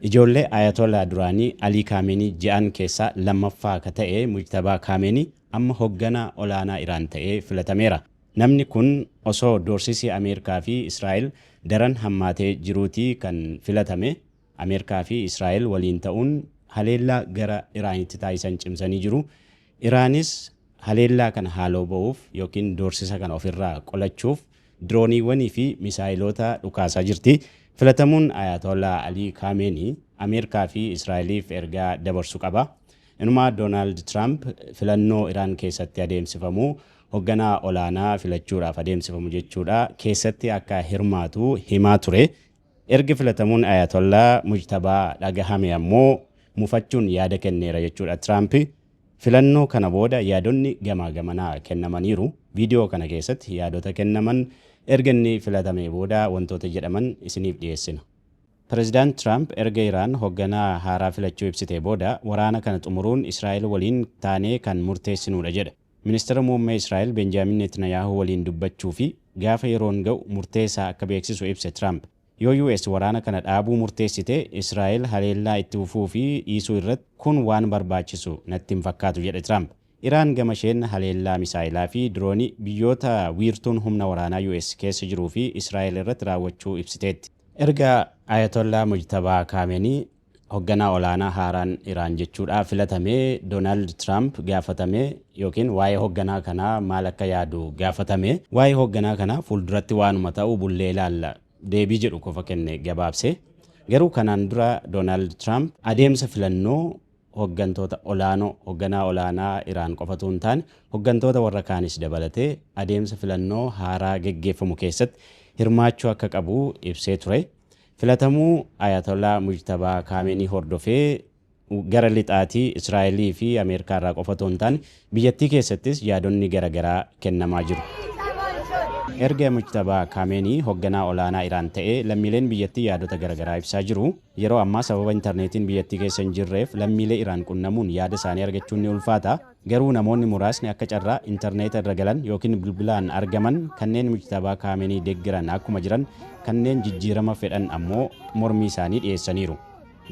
Ijoollee Ayatollah duraanii Alii Kaameenii ja'an keessaa lammaffaa ka ta'e Mujtabaa Kaameenii amma hogganaa olaanaa Iraan ta'ee filatameera. Namni kun osoo doorsisi Ameerikaa fi Israa'el daran hammaatee jiruutii kan filatame. Ameerikaa fi Israa'el waliin ta'uun haleellaa gara Iraanitti taasisan cimsanii jiru. Iraanis haleellaa kana haaloo ba'uuf ykn doorsisa kana ofirraa qolachuuf dirooniiwwanii fi misaayiloota dhukaasaa jirti. Filatamuun Ayaatollaa Alii Kaameenii Ameerikaa fi Israa'eliif ergaa dabarsu qaba. Inumaa Doonaald Tiraamp filannoo Iraan keessatti adeemsifamu hogganaa olaanaa filachuudhaaf adeemsifamu jechuudha keessatti akka hirmaatu himaa ture. Erga filatamuun Ayatollah Mujtabaa dhagahamee ammoo mufachuun yaada kenneera jechuudha Tiraamp. Filannoo kana booda yaadonni gamaa gamanaa kennamaniiru. Viidiyoo kana keessatti yaadota kennaman, erga inni filatamee booda wantoota jedhaman isiniif dhiyeessina. Pirezidaant Tiraamp erga Iraan hogganaa haaraa filachuu ibsitee booda, waraana kana xumuruun Israa'el waliin taanee kan murteessinuudha jedhe. Ministira Muummee Israa'el Benjaamin Neetinayaahuu waliin dubbachuu fi gaafa yeroon ga'u murtee isaa akka beeksisu ibse Tiraamp. Yoo US waraana kana dhaabuu murteessite, Israa'el haleellaa itti fufuu fi dhiisuu irratti kun waan barbaachisu natti hin fakkaatu, jedhe Tiraamp. Iraan gama isheen haleellaa misaa'elaa fi diroonii biyyoota wiirtuun humna waraanaa US keessa jiruu fi Israa'el irratti raawwachuu ibsiteetti. Erga Ayatollaa Mojtabaa Kaameenii Hogganaa olaanaa haaraan Iraan jechuudhaa filatame Doonaald Tiraamp gaafatame ykn waa'ee hogganaa kanaa maal akka yaadu gaafatame. Waa'ee hogganaa kanaa fuulduratti waanuma ta'u bullee ilaalla deebii jedhu qofa kenne gabaabsee. Garuu kanaan dura Doonaald Tiraamp adeemsa filannoo hoggantoota olaanoo, hogganaa olaanaa Iraan qofa utuu hin taane hoggantoota warra kaanis dabalatee adeemsa filannoo haaraa geggeeffamu keessatti hirmaachuu akka qabu ibsee ture. Filatamuu Ayatollah Mujtabaa Kaameenii hordofee gara lixaatii, Israa'elii fi Ameerikaa irraa qofa otoo hin taane biyyattii keessattis yaadonni gara garaa kennamaa jiru. Erga Mujtabaa Kaameenii hogganaa olaanaa Iraan ta'ee lammiileen biyyattii yaadota gara garaa ibsaa jiru. Yeroo ammaa sababa interneetiin biyyattii keessa hin jirreef lammiilee Iraan qunnamuun yaada isaanii argachuun ni ulfaata. Garuu namoonni muraasni akka carraa interneeta irra galan ykn bilbilaan argaman kanneen Mujtabaa Kaameenii deggeran akkuma jiran kanneen jijjiirama fedhan ammoo mormii isaanii dhiyeessaniiru.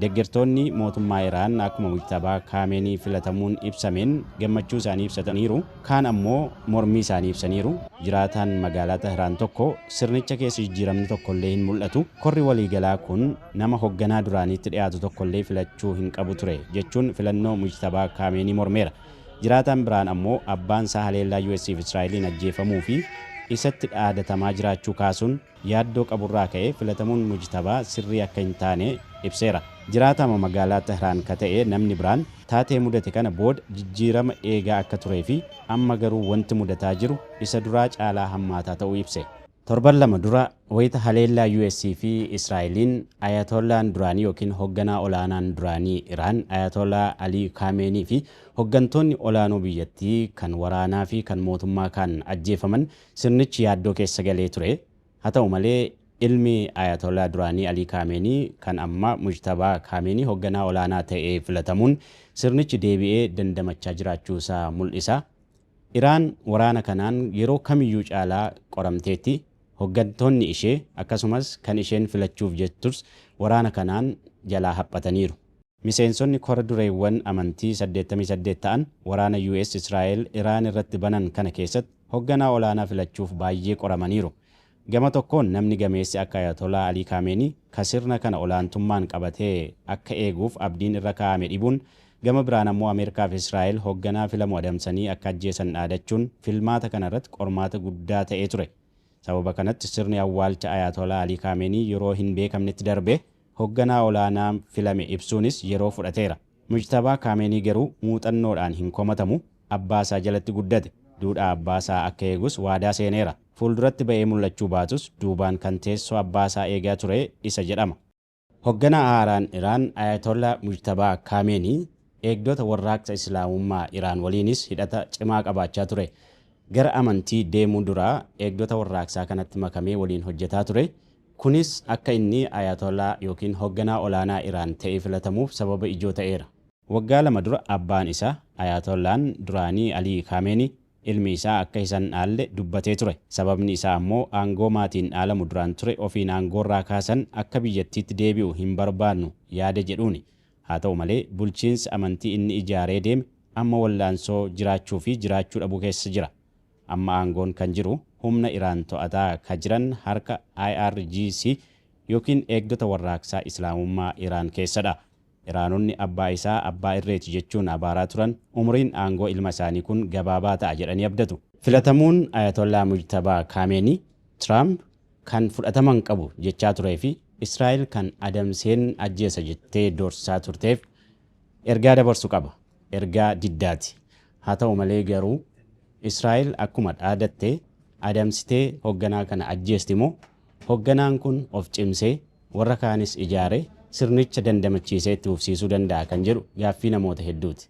Deggertoonni mootummaa Iraan akkuma Mujtabaa Kaameenii filatamuun ibsameen gammachuu isaanii ibsataniiru, kaan ammoo mormii isaanii ibsaniiru. Jiraataan magaalaa Tahraan tokko sirnicha keessa jijjiiramni tokkollee hin mul'atu. Korri waliigalaa kun. Nama hogganaa duraaniitti dhiyaatu tokkollee filachuu hin qabu ture, jechuun filannoo Mujtabaa Kaameenii mormeera. Jiraataan biraan ammoo abbaan isaa haleellaa US fi Israa'eliin ajjeefamuu fi isatti dhaadatamaa jiraachuu kaasuun yaaddoo qaburraa ka'ee filatamuun Mujtabaa sirrii akka hin taane ibseera. Jiraataama magaalaa Tehraan ka ta'e namni biraan taatee mudate kana booda jijjiirama eegaa akka turee fi amma garuu wanti mudataa jiru isa duraa caalaa hammaataa ta'uu ibse. Torban lama dura wayita haleellaa US fi Israa'eliin Ayatoollaan duraanii ykn hogganaa olaanaan duraanii Iraan Ayatoolaa Alii Kaameenii fi hoggantoonni olaanoo biyyattii kan waraanaa fi kan mootummaa kaan ajjeefaman sirnichi yaaddoo keessa galee ture. Haa ta'u malee ilmi Ayatoolaa duraanii Alii Kaameenii kan ammaa Mujtabaa Kaameenii hogganaa olaanaa ta'ee filatamuun sirnichi deebi'ee dandamachaa jiraachuu isaa mul'isa. Iraan waraana kanaan yeroo kamiyyuu caalaa qoramteetti, hoggantoonni ishee, akkasumas kan isheen filachuuf jettus waraana kanaan jalaa haphataniiru. Miseensonni kora dureewwan amantii 88 ta'an waraana US-Israa'el Iraan irratti banan kana keessatti hogganaa olaanaa filachuuf baayyee qoramaniiru. Gama tokkoon namni gameessi akka Ayatolaa Alii Kaameenii ka sirna kana olaantummaan qabatee akka eeguuf abdiin irra kaa'ame dhibuun, gama biraan ammoo Ameerikaa fi Israa'el hogganaa filamu adamsanii akka ajjeesan dhaadachuun filmaata kana irratti qormaata guddaa ta'ee ture. Sababa kanatti sirni awwaalcha Ayatolaa Alii Kaameenii yeroo hin beekamnetti darbe, hogganaa olaanaa filame ibsuunis yeroo fudhateera. Mujtabaa Kaameenii garuu muuxannoodhaan hin komatamu, abbaa isaa jalatti guddate. Duudhaa abbaa isaa akka eegus waadaa seeneera. Fuulduratti ba'ee mul'achuu baatus duubaan kan teessoo abbaa isaa eegaa ture isa jedhama. Hogganaa haaraan Iraan Ayatollah Mujtabaa Kaameenii eegdota Warraaqsa Islaamummaa Iraan waliinis hidhata cimaa qabaachaa ture. Gara amantii deemuu dura eegdota warraaqsaa kanatti makamee waliin hojjetaa ture. Kunis akka inni Ayatollah ykn hogganaa olaanaa Iraan ta'ee filatamuuf sababa ijoo ta'eera. Waggaa lama dura abbaan isaa, Ayatollaah'n duraanii Ali Khamenei, ilmi isaa akka isa hin dhaalle dubbatee ture. Sababni isaa ammoo aangoo maatiin dhaalamu duraan ture ofiin aangoorraa kaasan akka biyyattiitti deebi'u hin barbaadnu yaada jedhuuni. Haa ta'u malee, bulchiinsi amantii inni ijaaree deeme amma wallaansoo jiraachuu fi jiraachuu dhabuu keessa jira. Amma aangoon kan jiru humna Iraan to'ataa ka jiran harka IRGC ykn Eegdota Warraaqsaa Islaamummaa Iraan keessa dha. Iraanonni abbaa isaa abbaa irreeti jechuun abaaraa turan umuriin aangoo ilma isaanii kun gabaabaa ta'a jedhanii abdatu. Filatamuun Ayatollaa Mujtabaa Kaameenii, Tiraamp kan fudhatama hin qabu jechaa turee fi Israa'el kan adamseen ajjeesa jettee doorsisaa turteef ergaa dabarsu qaba. Ergaa diddaati. Haa ta'u malee garuu Israa'el akkuma dhaadatte adamsitee hogganaa kana ajjeesti moo hogganaan kun of cimsee warra kaanis ijaaree sirnicha dandamachiisee itti fufsiisuu danda'a kan jedhu gaaffii namoota hedduuti.